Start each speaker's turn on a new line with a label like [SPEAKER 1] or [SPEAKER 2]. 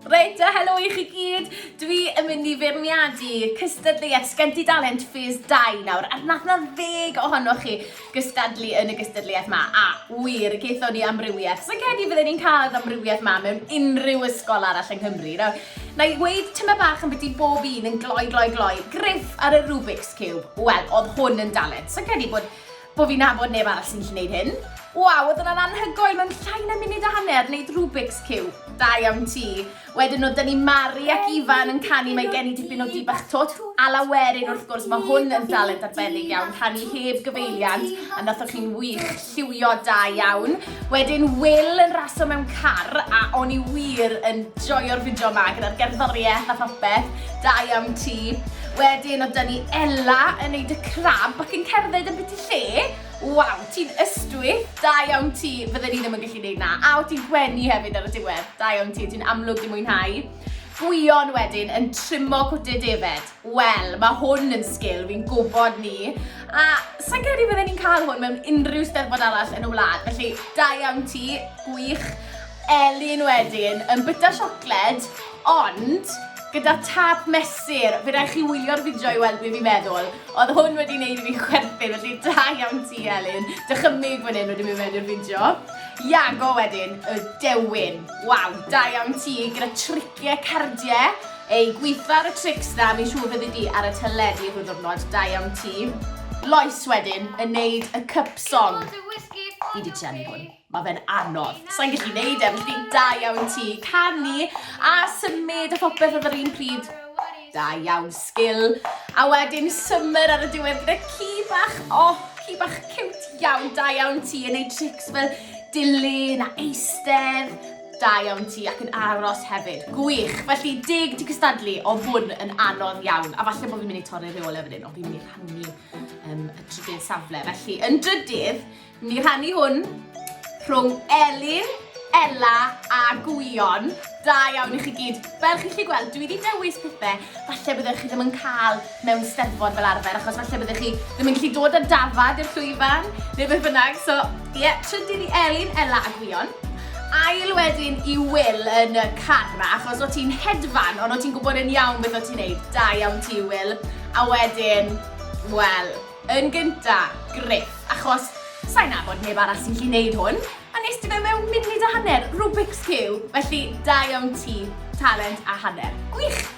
[SPEAKER 1] Reit, a helo i chi gyd. Dwi yn mynd i feirniadu cystadleuaeth Sgenti Dalent Ffys 2 nawr, a nath na ddeg ohonoch chi gystadlu yn y gystadleuaeth ma, a wir, geithon ni amrywiaeth. Sa'n credu fydden ni'n cael yr amrywiaeth ma mewn unrhyw ysgol arall yng Nghymru. Nawr, na i weid tyma bach yn byddu bob un yn gloi, gloi, gloi, griff ar y Rubik's Cube. Wel, oedd hwn yn dalent. Sa'n credu bod Bo fi'n nabod neb arall sy'n gallu neud hyn. Waw, oedd hwnna'n anhygoel, mae'n llai na munud a hanner neud Rubik's Cube. Da iawn ti. Wedyn o dynnu Mari ac Ifan yn canu mae gen i dipyn o dibach tot. A lawerin wrth gwrs, mae hwn yn dalent arbennig iawn, canu heb gyfeiliant, a nathoch chi'n wych, lliwio da iawn. Wedyn Will yn raso mewn car a o'n i wir yn joio'r fideo yma gyda'r gerddoriaeth a phopeth, da iawn ti. Wedyn oedd dyn ni Ella yn neud y crab ac yn cerdded yn byti lle. Waw, ti'n ystwyth, da iawn ti, fydden ni ddim yn gallu neud na. A oedd ti'n gwenu hefyd ar y diwedd, da iawn ti, ti'n amlwg di mwynhau. Gwion wedyn yn trimo cwtyn defaid. Wel, mae hwn yn sgil fi'n gwybod ni, a sa'n credu fydden ni'n cael hwn mewn unrhyw steddfod arall yn y wlad, felly da iawn ti, gwych, Elin wedyn, yn byta siocled, ond gyda tap mesur, fe rhaid chi wylio'r fideo i weld beth fi'n meddwl. Oedd hwn wedi wneud i fi chwerthin, felly da iawn ti Elin. Dychymyg fan hyn wedi mynd mewn i'r fideo. Iago wedyn, y dewin. Waw, da iawn ti gyda triciau cardiau. Ei gweithfa ar y trics dda fi'n siŵr fyddi di ar y teledu rhyw ddwrnod, da iawn ti. Lois wedyn yn neud y cup song. Fi di trianu hwn, mae fe'n anodd. Sa'n gallu neud e, felly da iawn ti. Canu a symud a phopeth oedd yr un pryd. Da iawn, sgil. A wedyn summer ar y diwedd gyda ci bach, oh, ci bach cute iawn, da iawn ti yn neud trics fel dilyn a eistedd. Da iawn ti, ac yn aros hefyd. Gwych! Felly, deg ti cystadlu, oedd hwn yn anodd iawn. A falle bod fi'n mynd i torri'r rheolau fan hyn, ond fi'n mynd i rhannu um, y trydydd safle. Felly, yn drydydd, fi'n mynd i rhannu hwn rhwng Elin Ella a Gwion. Da iawn i chi gyd. Fel chi chi gweld, dwi wedi dewis pethau, falle byddwch chi ddim yn cael mewn steddfod fel arfer achos falle byddech chi ddim yn gallu dod â dafad i'r llwyfan neu beth bynnag so ie yeah, trydydd i Elin, Ella a Gwion ail wedyn i Will yn y carra achos o ti'n hedfan ond o ti'n gwybod yn iawn beth o ti'n neud da iawn ti Will a wedyn wel yn gynta Griff achos sa'n nabod neb arall sy'n gallu neud hwn a nes ti fe mewn munud a hanner Rubik's Cube felly da iawn ti talent a hanner gwych